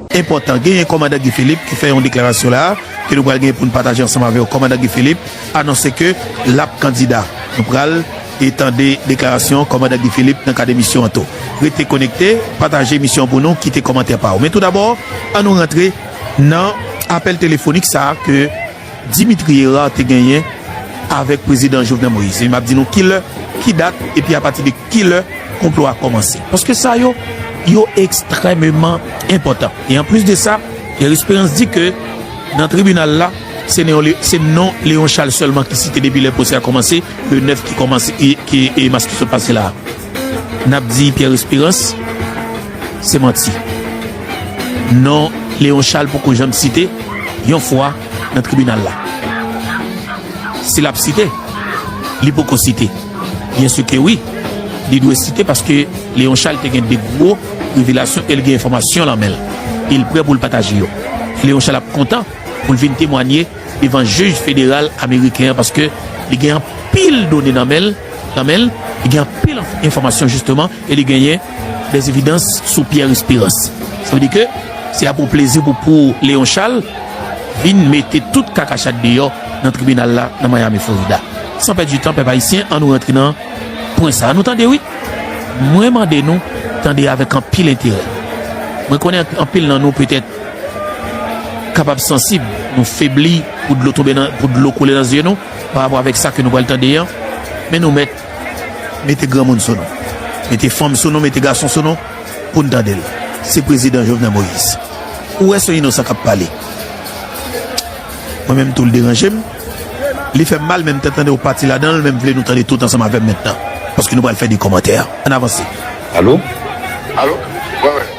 Enpòtan, genyen Kòmandan Guy Philippe ki fè yon deklarasyon la a ke nou pral genyen pou nou pataje ansanm avè w. Kòmandan Guy Philippe anonse ke l ap kandida. Nou pral e tande deklarasyon Kòmandan Guy Philippe nan kad emisyon an tou. Rete konekte, pataje emisyon an pou nou, kite kòmantè pa w. Men tou dabò, an nou rantre nan apèl telefonik sa a ke. Dimitri Herard te genyen avèk prezidan Jovenel Moïse. M ap di nou ki lè, ki dat, epi apati de ki lè konplo a kòmanse. Paske sa yo, yo ekstrèmeman enpòtan. E anplis de sa, Pierre Espérance di ke nan tribinal la, se non se non Léon Charles sèlman ki site depi lè pwosè a kòmanse, le 9 ki kòmanse, ki mas ki sot pase la a. nap di Pierre Esperance se manti. Non Léon Charles poko janm site yon fwa nan tribinal la. Si lap site, li poko site. Byen si ke wi, li dwe site paske Léon Charles te gen de gwo revelasyon el gen enfòmasyon lan menl. El prè poul pataje yo. Léon Charles ap kontan. pou l vin temwanye devan jij federal ameriken an paske li gen anpil done nan men l, nan men l, li gen anpil enfòmasyon jisteman e li genyen des evidans sou Pierre Espérance. Sa vle di ke se a pou plezi pou pou Léon Charles vin mete tout kakachat deyò nan tribinal la nan Miami Florida. San pèdi tan pèp ayisyen an nou rantre nan pwen sa a nou tande wi. Mwen mande nou tande avèk anpil enterè. Mwen konnen anpil nan nou petèt. kapab sansib, nou febli pou dlo tonbe nan, pou dlo koule nan zye nou, pa rapò avèk sa ke nou pral tande an, men nou mèt mete granmoun sou nou, mete fanm sou nou, mete gason sou nou, pou n tande l, se Prezidan Jovenel Moïse. Ou wè son inosan k ap pale. Mwen menm tou l deranje m, li fè m mal, men m te tande yon pati ladan l, men m vle nou tande tout ansanm avè m mentnan, paske nou pral fè de kòmantè. Ann avanse. Alo? Alo? Wè wè.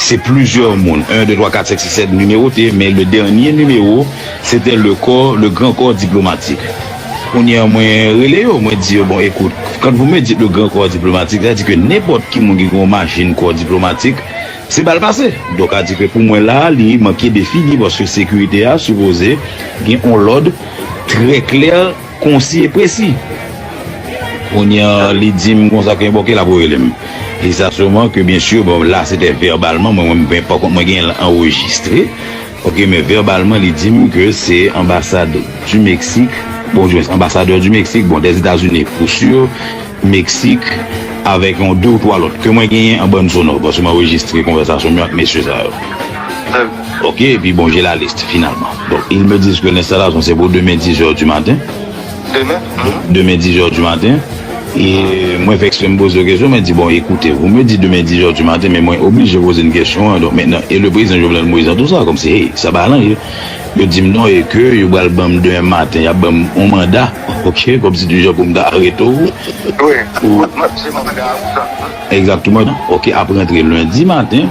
Se plizyè moun, 1, 2, 3, 4, 5, 6, 7, nimewote, men le dènye nimewo, se te le kò, le gran kò diplomatik. Kounye an mwen rele yo, mwen di yo, bon, ekout, quand vous me dites le grand corps diplomatique, sa vle di ke nenpòt ki moun ki gen yon machin kò diplomatik, se bal pase. Donk a di ke pou mwen la a, li manke de figi, paske sekirite a sipoze gen yon lòd trè klè. Konsi e presi. Kounye a li di m konsa ke bon ke l ap rele m. E sa souvan ke byen sur bon la se te vèbalman mwen mwen mwen pakon mwen genyen l anrejistre ok men vèbalman li di m ke se anbasad du Meksik bon di mwens anbasadè du Meksik bon dè Etazini pou sur Meksik avèk yon de ou twa lòt ke mwen genyen an bann sonò paske m anrejistre konvèsasyon m yo ak mesye sa yo. Ok epi bon je la liste finalman donk il me disent que l'installation se pou demen 10 heures du matin demen 10 heures du matin e mwen fè eksprè m poze yo kesyon mwen di bon écoutez vous me dites demen 10 heures du matin men mwen oblije poze n kesyon an donk mentnan e le prezidan Jovenel Moïse nan tout sa kòmsi hey sa pa alan ye yo di m non e ke yo pral ban m demen maten y ap ban m yon manda ok kòmsi du jan pou m ta arete w pou Exactement ok ap rantre lundi matin.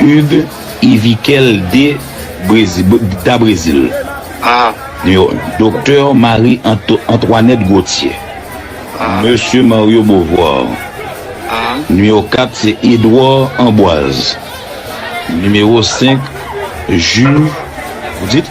Hugues Yvikel de Da Brezil, a, nimewo 1, Doktè Marie Antoinette Gauthier, a, Mesye Mario Beauvoir, a, nimewo 4, se Edouard Amboise, nimewo 5, Ju, vous dites?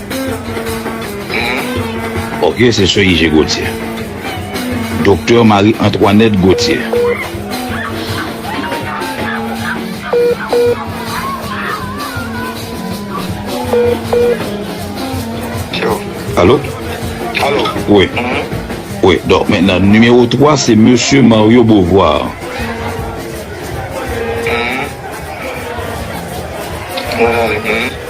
Ok se sè Ije Gauthier. Docteur Marie Antoinette Gauthier. Alo? Alo? Wi. Wi, donk men nan nimewo 3 se Mesye Mario Beauvoir. Mwen ale.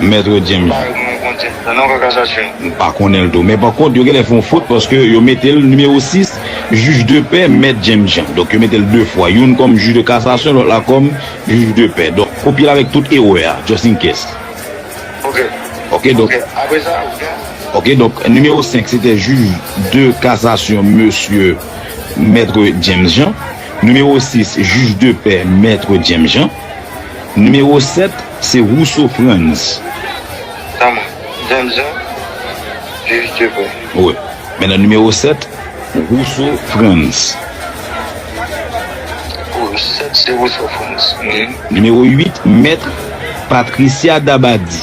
Maitre James. M pa konnen l tou. Men pa kont yo genlè fè yon fot paske yo mete l nimewo 6, Jij de pè Mèt James Jean. Donk yo mete l 2 fwa. Youn kòm jij de kasasyon lòt la kòm jij de pè. Donk kopye l avèk tout erè a just in case. Ok donk Ok donk nimewo 5 se te jij de kasasyon mesye Mètre James Jean. Nimewo 6 jij de pè Mètre James Jean. Nimewo 7 se Rousseau Frantz. Tanm James Jean, Jij Dieupre. Wi. Men nan nimewo 7, Rousseau Frantz. Nimewo 7 se Rousseau Frantz. Nimewo 8, Maître Patricia Dabadie.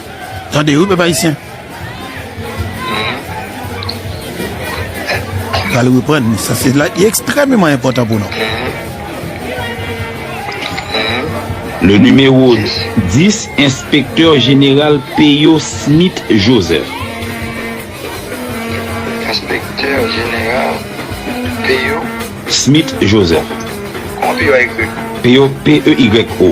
Tande wi pèp ayisyen. Pral reprann ni sa se la ekstrememan enpòtan pou nou. Le numéro 10 enspektè jeneral Peyo Smith Joseph. Enspektè jeneral Peyo. Smith Joseph. Kòman Peyo a ekri? Peyo, p-e-y-o.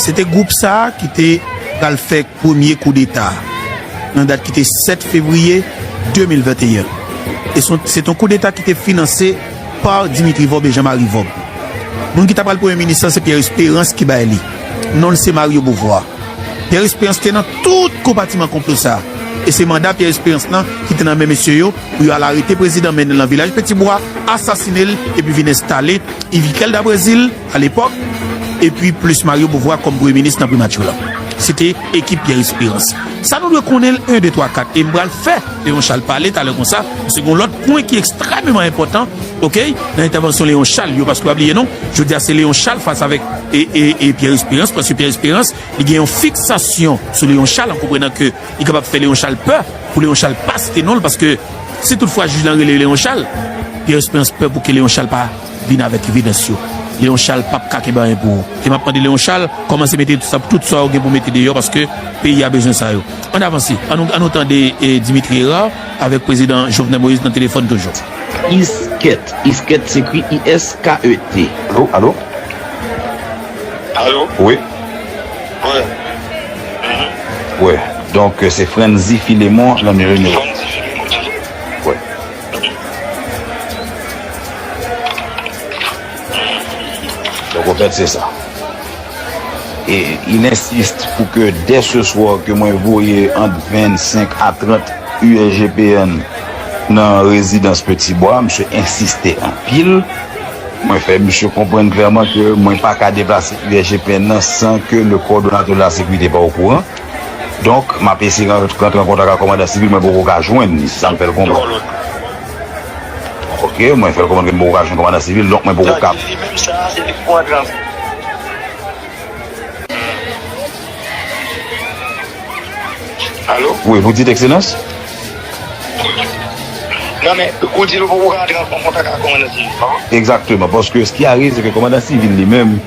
Se te gwoup sa a ki te pral fè premye koudeta a nan dat ki te 7 fevriye 2021. Se te yon koudeta ki te finanse pa Dimitri Vorbe e Jean-Marie Vorbe. Moun ki ta pral premye minis lan se Pierre Espérance ki bay li. Non l se Mario Beauvoir. Pierre Espérance te nan tout konpatiman konplo sa a. E se manda Pierre Espérance lan ki te nan men mesye yo pou yo al arete prezidan, mennen l nan vilaj Petit-Bois, asasine l epi vin enstale Yves Iquel da Brésil, A lepòk, epi plis Mario Beauvoir kòm premye minis nan Primati la, se te ekip Pierre Espérance. Sa nou dwe konnen l 1, 2, 3, 4 e m pral fè Léon Charles pale talè konsa, paske gon lòt pwen ki ekstrèmeman enpòtan ok nan entèvansyon Léon Charles yo, paske pa bliye non, jodi a se Léon Charles fas avèk e Pierre Espérance, paske Pierre Espérance li gen yon fiksasyon sou Léon Charles an konprenan ke li kapab fè Léon Charles pè pou Léon Charles pa site non l, paske si tout fwa jij lan rele Léon Charles, Pierre Espérance pè pou ke Léon Charles pa. Vin avèk evidans yo. Leon Charles pap ka kenbe anyen pou ou. E map mande Leon Charles kòmanse mete tout sa ou gen pou mete deyò paske peyi a bezwen sa yo. Ann avanse. An nou tande Dimitri Herard avèk Prezidan Jovenel Moïse nan telefòn toujou. Isket, Isket se ekri ISKET. Alo, alo? Alo? Wi? Wi. Wi. Donk se Frantzy Philemon Lanmire nou. Frantzy Philemon toujou? Wi. Donk au fait se sa. E il insiste pou ke dès ce soir ke mwen voye ant 25 a 30 USGPN nan rezidans Petit Bois, misye insiste anpil. Mwen fè misye konprann clairement ke mwen pa ka deplase USGPN nan san ke le coordonnateur de la sécurité pa okouran. Donk, m ap eseye rantre an kontak ak kòmandan sivil mwen poko ka jwenn li, se sa m fè l konprann. Ok, mwen fè l konprann ke m poko ka jwenn kòmandan sivil, donk mwen poko ka. Alo? Wi, vous dites Excellence? Non men, ou di nou poko ka rantre an kontak ak kòmandan sivil, pa vre? Egzakteman, paske s ki arive se ke kòmandan sivil li menm.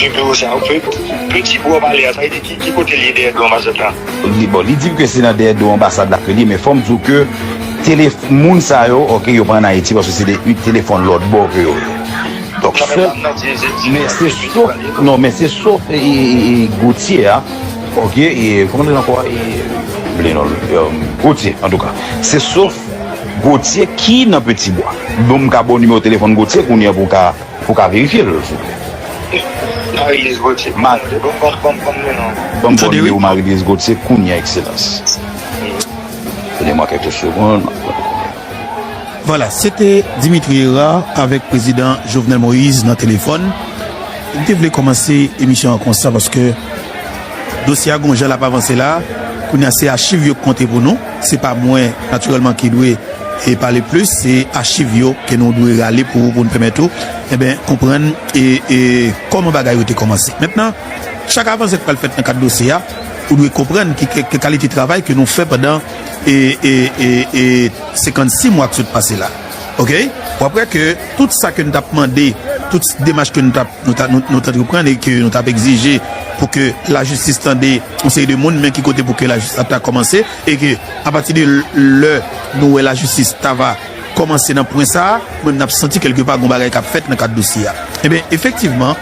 Ki biwo sa yo? Peti bwa w pale a, sa vle di ki kote l ye dèyè do anbasad la? Bon, li di m ke se nan dèyè do anbasad la ke li ye, men fò m di w ke tele, moun sa yo, ok, yo pa ann Ayiti paske se de telefòn lòtbò ke yo ye. Donk, sèl, men se sof, non, men se sof Gauthier a, ok, kòman li rele ankò a? E, m bliye non l. Gauthier, antouka, se sof Gauthier ki nan Petit Bois. Bon, m ka ba w nimewo telefòn Gauthier kounye a pou w ka. Ou ka verifye l souple. Marie-Louise Gauthier Banm numéro Marie-Louise Gauthier kounya Excellence. Donnez moi quelques secondes. Vwala, se te Dimitri Herard avèk prezidan Jovenel Moïse nan telefòn. M te vle kòmanse emisyon an konsa paske dosye a gen yon jan l ap avanse la a. Kounye a se achiv yo k konte pou nou. Se pa mwen natirèlman ki dwe pale plis, se achiv yo ke nou dwe rale pou ou, pou nou pèmèt ou konprann kòman bagay yo te kòmanse. Mentnan, chak avanse ki pral fèt nan kad dosye a, ou dwe konprann ki kalite travay ke nou fè pandan 56 mwa ki sot pase la. Wap wè ke tout sa ke nou tap mande, tout demach ke nou tap. Nou t antreprann e ke nou t ap egzije pou ke lajistis tande yon seri de moun, men ki kote pou ke lajistis ap ta kòmanse e ke apati de lè nou wè lajistis ta va kòmanse nan pwen sa a, nou menm n ap santi kèlke pa gon bagay k ap fèt nan kad dosye a. Enben, efektivman,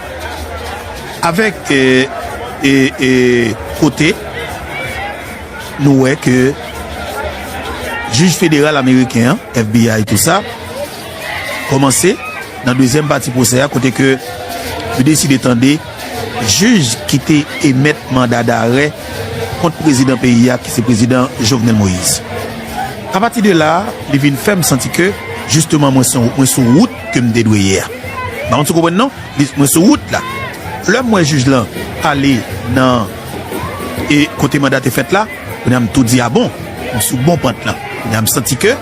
avèk kote nou wè ke jij federal ameriken an, FBI, tou sa, kòmanse nan dezyèm pati pwosè a kote ke yo deside tande jij ki te emèt manda darè kont prezidan peyi a ki se prezidan Jovenel Moïse. A pati de la li vin fè m santi ke jisteman mwen son mwen sou wout ke m te dwe ye a. M pa konn si w konprann non? Mwen sou wout la. Lè m wè jij lan ale nan e kote manda te fèt la. Kounya m tou di a bon, m sou bon pant lan. Kounya m santi ke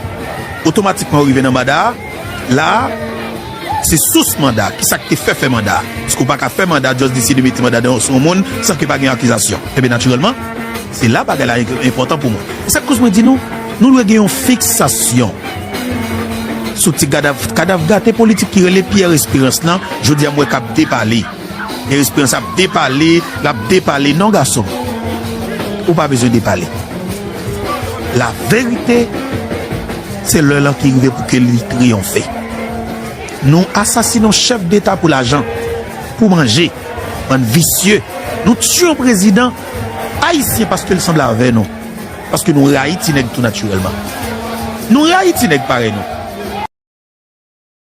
otomatikman ou rive nan manda a. La a, se sous manda a. Kisa k te fè fè manda a? Paske ou pa ka fè manda just deside mete manda nan sou yon moun san ke pa gen akizasyon. Enben natirèlman, se la bagay la enpòtan pou mwen. Se sa k koz mwen di nou, nou dwe gen yon fiksasyon sou ti kadav, kadav gate politik ki rele Pierre Espérance lan, jodi a m wè k ap depale. Pierre Esperance ap depale, l ap depale. Non gason m, ou pa bezwen depale. Laverite, se lè l an ki rive pou ke li triyonfe. Nou asasine yon chèf deta pou lajan, pou manje, bann visye. Nou tiye yon prezidan ayisyen paske l sanble avè nou, paske nou rayi ti nèg tou natirèlman. Nou rayi ti nèg parèy nou.